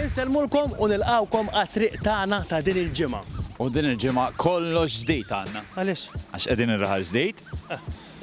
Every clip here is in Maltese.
Insellmulkom u nilqgħukom għat-triq tagħna ta' din il-ġimgħa. U din il-ġimgħa kollox ġdid għandna. Għaliex? Għax qegħdin ir-raħal ġdid.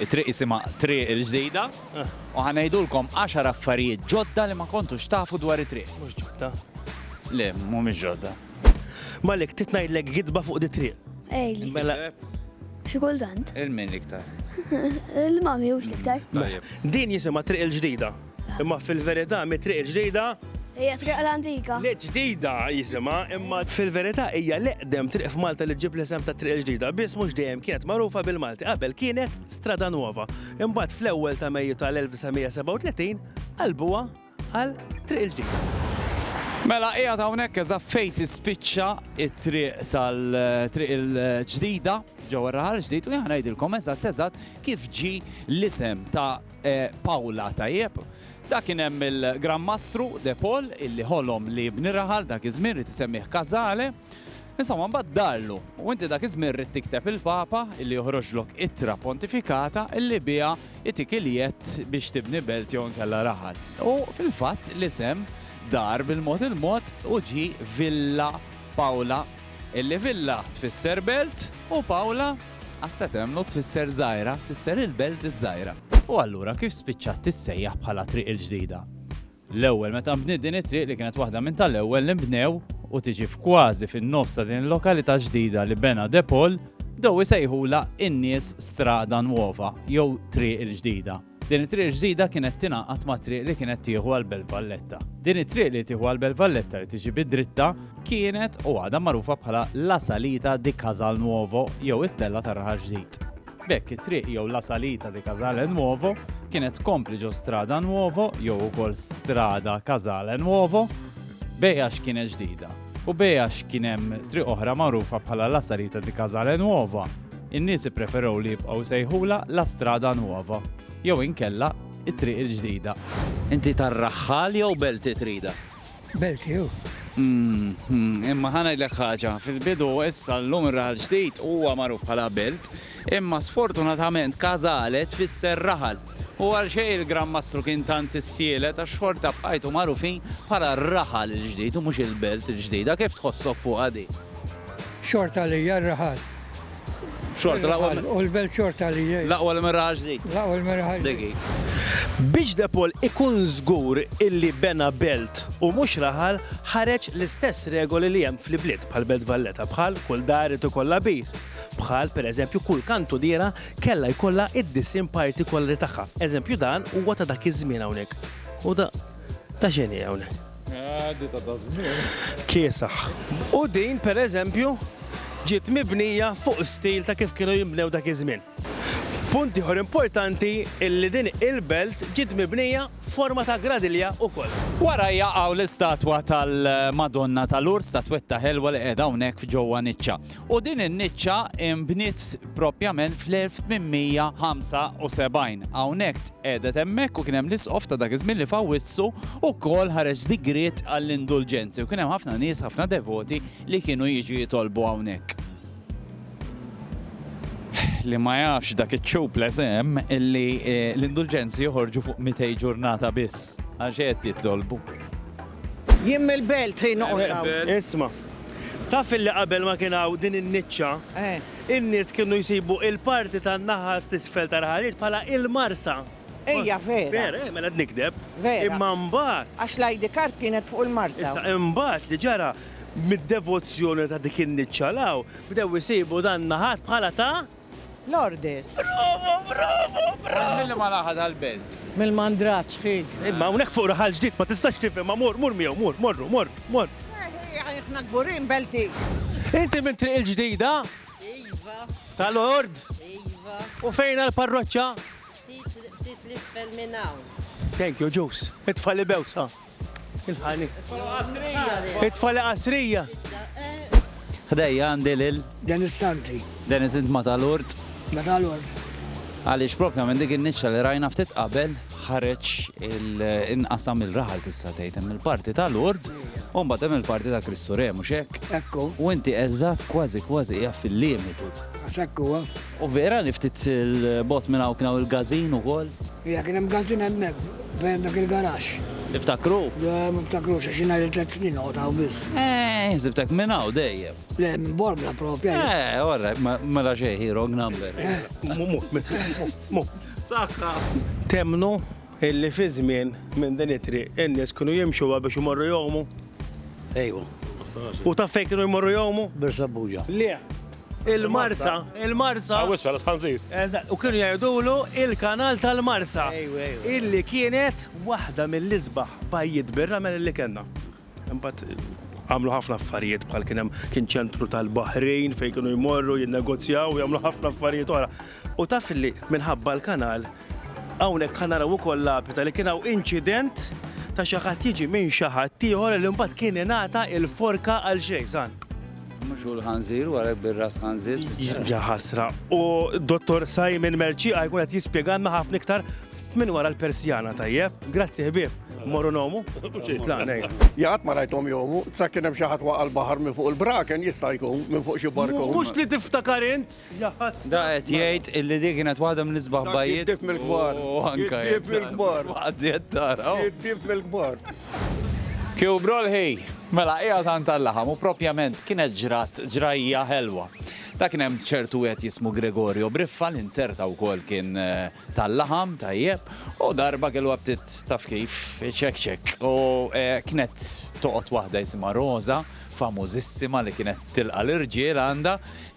It-triq jisimha Triq il-Ġdida u ħa ngħidulkom għaxar affarijiet ġodda li ma kontux tafu dwar it-triq. Mhux ġodda. Le, mhumiex ġodda. Malik, trid ngħidlek gidba fuq dit-triq? Ejli. Mela. Xi kultant. Il-min l-iktar? Il-mami hux l-iktar. Din jisimha Triq il-Ġdida. Imma fil-verità mit-triq il-ġdida. Hija triq l-antika. Le ġdida jisimha, imma fil-verità hija l-eqdem triq f'Malta li ġġib l-isem ta' Triq il-Ġdida, biss mhux dejjem kienet magħrufa bil-Malti. Qabel kienet Strada Nuova, imbagħad fl-ewwel ta' Mejju tal-1937 qalbuha għal Triq il-Ġdida. Mela qiegħed hawnhekk eżatt fejn tispiċċa t-triq tal-Triq il-Ġdida ġewwa r-Raħal Ġdid u jien ħa ngħidilkom eżatt eżatt kif ġie l-isem ta' Paula tajjeb. Dak kien hemm il-Gran Mastru De Paul illi ħolom li jibni raħal dak iż-żmien ried isemmih casale. Insomma mbagħad darlu u inti dak iż-żmien ridt tikteb il-Papa illi joħroġlok ittra pontifikata illi biha jtik il-jedd biex tibni belt jew inkella raħal. U fil-fatt l-isem dar bil-mod il-mod u ġie Villa Paula illi villa tfisser belt u Paula Asset Emno tfisser żgħira, tfisser il-belt iż-żgħira. U allura kif spiċċat tissejjaħ bħala Triq il-Ġdida? L-ewwel meta nbniet din it-triq li kienet waħda minn tal-ewwel li nbnew u tiġi f'kważi fin-nofs ta' din il-lokalità ġdida li bena De Paul, bdew isejħulha in-nies Strada Nuova jew Triq il-Ġdida. Din it-triq ġdida kienet tingħaqad mat-triq li kienet tieħu għal Belt Valletta. Din it-triq li tieħu għal Belt Valletta li tiġi bid-dritta kienet u għadha magħrufa bħala La Salita di Casal Nuovo jew it-Tella tar-Raħal Ġdid. B'hekk it-triq jew La Salita di Casale Nuovo kienet tkompli ġo Strada Nuovo jew ukoll Strada Casale Nuovo bejja x'kienet ġdida u bejja x'kien hemm triq oħra magħrufa bħala La Salita di Casale Nuova. In-nies ippreferew li jibqgħu jsejħulha La Strada Nuova jew inkella t-Triq il-Ġdida. Inti tar-Raħħal jew Belti Trida? Belti hu. Imma ħa ngħidlek ħaġa, fil-bidu u issa llum ir-Raħal Ġdid huwa magħruf bħala Belt, imma sfortunatament Casale tfisser Raħal. U għalxejn il-Gran Mastru kien tant issielet għax xorta bqajtu magħrufin bħala r-Raħal il-Ġdid u mhux il-Belt il-Ġdida. Kif tħossok fuqha din? Xorta għalija r-Raħal Xorta l-aqwa. U l-belt xorta li jgħid. L-aqwa li merraħ ġdid. L-aqwa li merraħ ġdid. Biex De Paul ikun żgur illi bena belt u mhux raħal, ħareġ l-istess regoli li hemm fl-ibliet bħal Belt Valletta, bħal kull dar irid ikollha bir, bħal, per eżempju, kull kantudiera kellha jkollha d-disgħin partikolari tagħha. Eżempju dan huwa ta' dak iż-żmien hawnhekk. U da, ta' x'inhi hawnhekk? Kiesaħ. U din, per eżempju, ġiet mibnija fuq stil ta' kif kienu jinbnew dak iż-żmien. Punt ieħor importanti illi din il-belt ġiet mibnija f'forma ta' gradilja ukoll. Warajja hawn l-istatwa tal-Madonna ta' Lourdes, statwetta ħelwa li qiegħda hawnhekk f'ġewwa niċċa. u din in-niċċa nbniet proprjament fl-1875. Hawnhekk tqegħdet hemmhekk u kien hemm l-isqof ta' dak iż-żmien li f'Awwissu wkoll ħareġ digriet għall-indulġenzi u kien hemm ħafna nies, ħafna devoti li kienu jiġu jitolbu hawnhekk. Li ma jafx dak iċ-ċup l-eżem illi eh, l-indulġenzi joħorġu fuq 200 ġurnata biss għax qed jitolbu. Jien mill-Belt ħin oħra. Isma'. Taf illi qabel ma kien hawn din in-niċċa, in-nies kienu jsibu il-parti tan-naħa t'isfel tal-ħalliet bħala il-marsa. Ejja, vera. Vera, eh, mela qed nikdeb. Vera. Imma mbagħad. Għax l-ID card kienet fuq il-marsa. Issa, imbagħad li ġara, mid-devozzjoni ta' dik in-niċċa 'l hawn, bdew isibu dan naħat bħala ta'. Lourdes. Brava, brava, brava! Milli ma laħa dal-belt. Mill-mandraġġ hi. Imma hawnhekk fuq raħal ġdid ma tistax tifhem ma mur, mur miegħu, mur, morru, mor, mor. Aħna kburin belti. Inti minn Triq il-Ġdida? Iva. Ta' Lord? Iva. U fejn għall-parroċċa? Ftit l-isfel minn hawn. Thank you, Ġus. It-tfal ibewsa. Il-ħalib. It-tfala qasrija. Ħdejja għandi lil. Dennis Stanley. Dennis int ma tal-ord. Ma tal-ord. Għaliex propja minn dik in-niċċa li rajna ftit qabel ħareġ il-inqasam il-raħal tista' tgħid hemm il-parti tal-ord u mbagħad hemm il-parti ta' Kristu Re mhux hekk. Ekku. U inti eżatt kważi kważi hija fil-limitu. Sekku. U vera li ftit 'il bogħod minn hawn kien hawn il-gazin ukoll? Iva kien hemm gazin hemmhekk bejn dak il-garaxx. Tiftakru? Le ma niftakrux għax jien għajr tliet snin noqgħod hawn biss. Eeh, ħsibtek minn hawn dejjem. Le, minn Bormla proprja jien. Eeh, all right, mela xejn, hi wrong number. Eeh. Mhu, mhu, mhu, mhu. Saħħa. Temmnu? Illi fi żmien minn din it-triq in-nies kienu jimxuha biex imorru jgħumu? Ejwa. U taf fejn kienu jmorru jgħumu? Birsabuġa. Le. Il-Marsa, il-Marsa. Hawn isfel għas-Ħanżir. Eżatt, u kienu jgħidulu il-Kanal tal-Marsa. Ejwa, ejwa. Illi kienet waħda mill-isbaħ bajjiet bir-ramel illi kellna. Imbagħad għamlu ħafna affarijiet bħal kien hemm kien ċentru tal-baħrin fejn kienu jmorru jinnegozjaw u jagħmlu ħafna affarijiet oħra. U taf li minħabba l-kanal hawnhekk ħa naraw ukoll lapita li kien hawn inċident ta' xi ħadd jiġi minn xi ħadd ieħor li mbagħad kien ingħata il-forka għal xejn san. Mhux hu l-ħanżir wara bir-ras ħanżir. Ja ħasra. U Dottor Simon Merċiqa jkun qed jispjegalna ħafna iktar F'min wara l-persjana tajjeb, grazzi ħbieb, morru nomu, tlaqnej. Jgħat ma rajtom jomu, sa kien hemm xi ħadd waqa' l-baħar minn fuq il-braken jista' jkun minn fuq xi barkun. Mhux li tiftakar int, jaħas. Da qed jgħid illi di kienet waħda mill-isbaħ bajjiet. Id-dib mill-kbar. U anke. Id-dib mill-kbar. Għaddiet tara. Id-dib mill-kbar. Kiew brolħi, mela qiegħed għand tal-laħam u propjament kienet ġrat ġrajja ħelwa. Da kien hemm ċertu wieħed jismu Gregorio Briffa li nzerta wkoll kien eh, tal-laħam tajjeb u darba kelluha bdiet taf kif ċekk ċekk u kienet toqgħod waħda jisimha Roża famużissima li kienet tilqa' l-irġiel għandha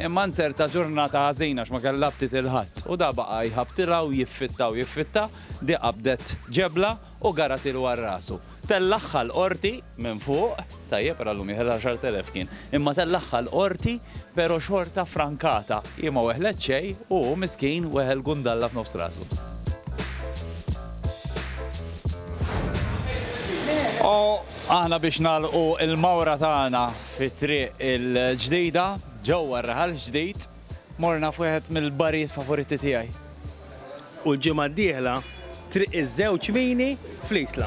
imma nzerta ġurnata ħażina għax ma kellha btiet il-Ħadd u da baqa' jħabbtilha u jiffitta u jiffitta di qabdet ġebla u garatilu għal rasu. Tellagħha l-Qorti minn fuq, tajjeb ara llum jieħel għaxart elef kien, imma tellagħha l-Qorti pero' xorta frankata, hi ma weħlet xejn u hu miskin weħel gundalla f'nofs rasu. U aħna biex nagħlqu l-mawra tagħna fi triq il-ġdida, ġewwa r-raħal ġdid, Morna f'wieħed mill-barijiet favoriti tiegħi. U l-ġimgħa d-dieħla Triq iż-Żewġ Mini fl-Isla.